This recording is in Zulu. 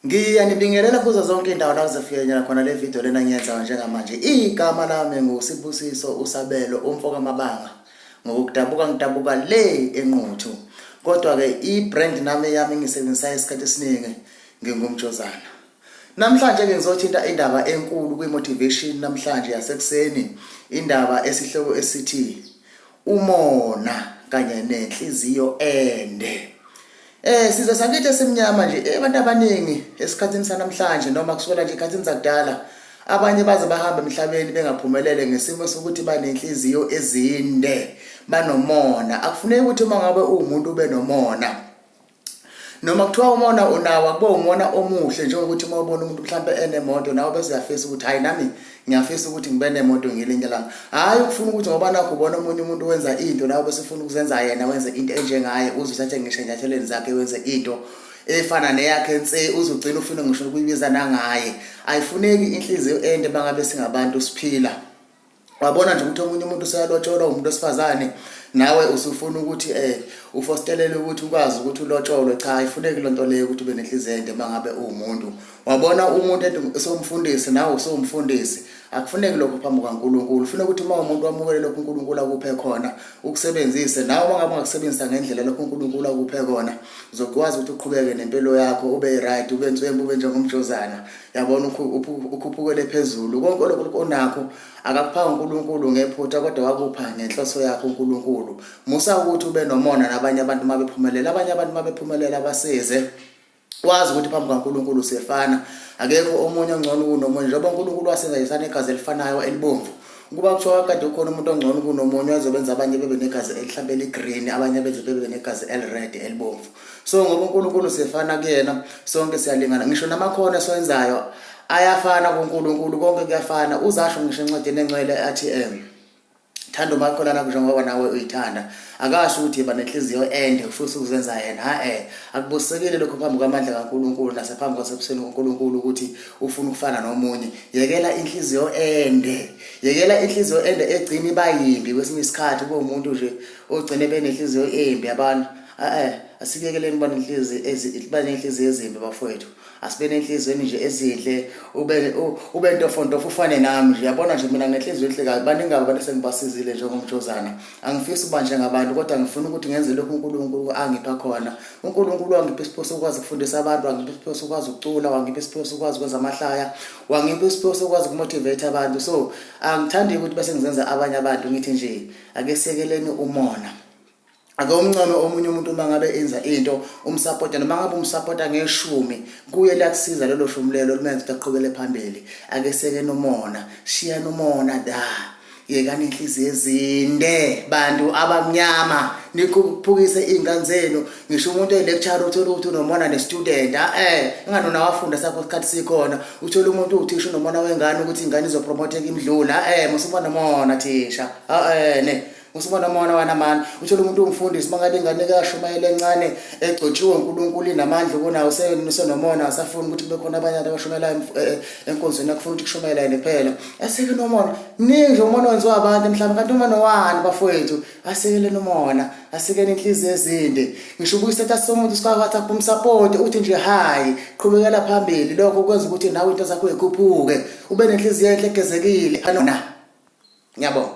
Ngiyanibingelela kuzo zonke indawo la kuzofinyelelana khona le video lena ngiyenzayo njengamanje. Igama lami nguSibusiso uSabelo umfo kaMabanga. Ngokudabuka ngidabuka le enquthu. Kodwa ke i-brand nami yami ngisebenzisa isikhathi esiningi ngingumjozana. Namhlanje ke ngizothinta indaba enkulu kwi-motivation namhlanje yasekuseni, indaba esihloko esithi umona kanye nenhliziyo ende eh size sakithi esimnyama nje eh, abantu abaningi esikhathini sanamhlanje noma kusukela nje ikhathini zakudala abanye baze bahamba emhlabeni bengaphumelele ngesimo sokuthi banenhliziyo ezinde banomona akufuneki ukuthi uma ngabe uwumuntu ube nomona noma kuthiwa umona unawo akube umona omuhle njengokuthi uma ubona umuntu mhlawumbe enemoto nawe bese uyafisa ukuthi hhayi nami ngiyafisa ukuthi ngibe nemoto ngelinye lami hhayi ukufuna ukuthi ngoba nakho ubona omunye umuntu wenza into nawe bese ufuna ukuzenza yena wenze into enjengaye uze uthathe ngisho enyathelweni zakhe wenze into efana neyakhe ense uzogcina ufuna ngisho ukuyibiza nangaye ayifuneki inhliziyo ende bangabe singabantu siphila wabona nje ukuthi omunye umuntu useyalotsholwa umuntu wesifazane nawe usufuna ukuthi eh ufostelele ukuthi ukwazi ukuthi ulotsholwe cha ayifuneki lonto leyo ukuthi ube nenhliziyo ende mangabe uwumuntu wabona umuntu ethi usomfundisi nawe usomfundisi akufuneki lokho phambi kwaNkuluNkulu ufuna ukuthi uma umuntu wamukele lokho uNkuluNkulu akuphe khona ukusebenzise nawe uma ngabe ungakusebenzisa ngendlela lokho uNkuluNkulu akuphe kona uzokwazi ukuthi uqhubeke nempilo yakho ube right ube nswembu ube njengomjozana yabona ukhuphukele phezulu konke lokhu onakho akakuphanga uNkulunkulu ngephutha kodwa wakupha ngenhloso yakho uNkulunkulu musa ukuthi ube nomona nabanye abantu uma bephumelela abanye abantu uma bephumelela basize wazi ukuthi phambi kaNkulunkulu siyefana akekho omunye ongcono kunomunye njengoba uNkulunkulu wasenza yesana igazi elifanayo elibomvu ukuba kuthiwa kade ukhona umuntu ongcono kunomunye ozobenza abanye bebe negazi elihlabela igreen abanye beze bebe negazi elired elibomvu so ngoba uNkulunkulu sefana kuyena sonke siyalingana ngisho namakhono esiwenzayo ayafana kuNkulunkulu konke kuyafana uzasho ngisho encwadini encwele athi em thanda umakholana kusho ngoba nawe uyithanda akasho ukuthi yiba nenhliziyo ende futhi ukuzenza yena ha-e akubusekile lokho phambi kwamandla kankulunkulu nasephambi kwasebusweni kunkulunkulu ukuthi ufuna ukufana nomunye yekela inhliziyo ende yekela inhliziyo ende egcina iba yimbi kwesinye isikhathi kuwumuntu nje ogcine benenhliziyo embi abantu Eh asibekeleni bani inhliziyo ezibane inhliziyo ezimbi bafowethu. Asibene inhliziyo nje ezinhle ube ube ntofonto ufane nami nje yabona nje mina ngenhliziyo enhle kabi baningi abantu sengibasizile njengomjozana. Angifisi uba njengabantu kodwa ngifuna ukuthi ngenze lokhu uNkulunkulu angipha khona. UNkulunkulu wangipha isiphiwo sokwazi ukufundisa abantu, wangipha isiphiwo sokwazi ukucula, wangipha isiphiwo sokwazi ukwenza amahlaya, wangipha isiphiwo sokwazi ukumotivate abantu. So angithandi ukuthi bese ngizenza abanye abantu ngithi nje ake sekeleni umona. ake umncome omunye umuntu uma ngabe enza into umsapota noma ngabe umsapota ngeshumi kuye lakusiza lelo shumi lelo lumenza ukuthi aqhubele phambili ake seke nomona shiya nomona da yekani inhliziyo ezinde bantu abamnyama niphukise iy'ngane zenu ngisho umuntu oyi-lecture uthole ukuthi unomona ne-student a-e inganona wafunda sakho isikhathi sikhona uthole umuntu uthisha unomona wengane ukuthi ingane izopromoteka imdlula a-e musibona mona thisha a-e ne Usibona umona wanamani uthola umuntu umfundisi mangabe ingane kashumayela encane egcotshiwe uNkulunkulu inamandla kunawo senomona asafuni ukuthi kube khona abanye abashumelayo eh, eh, enkonzweni akufuna ukuthi kushumayela yena kuphela asike nomona mningi nje umona wenziwa abantu mhlawumbe kanti umona wani bafowethu asekele nomona asekele inhliziyo ezinde ngisho ubuye isetha somuntu sikwathi akumsapoti uthi nje hayi qhubekela phambili lokho kwenza ukuthi nawe into zakho ikhuphuke ube nenhliziyo enhle egezekile anona ngiyabonga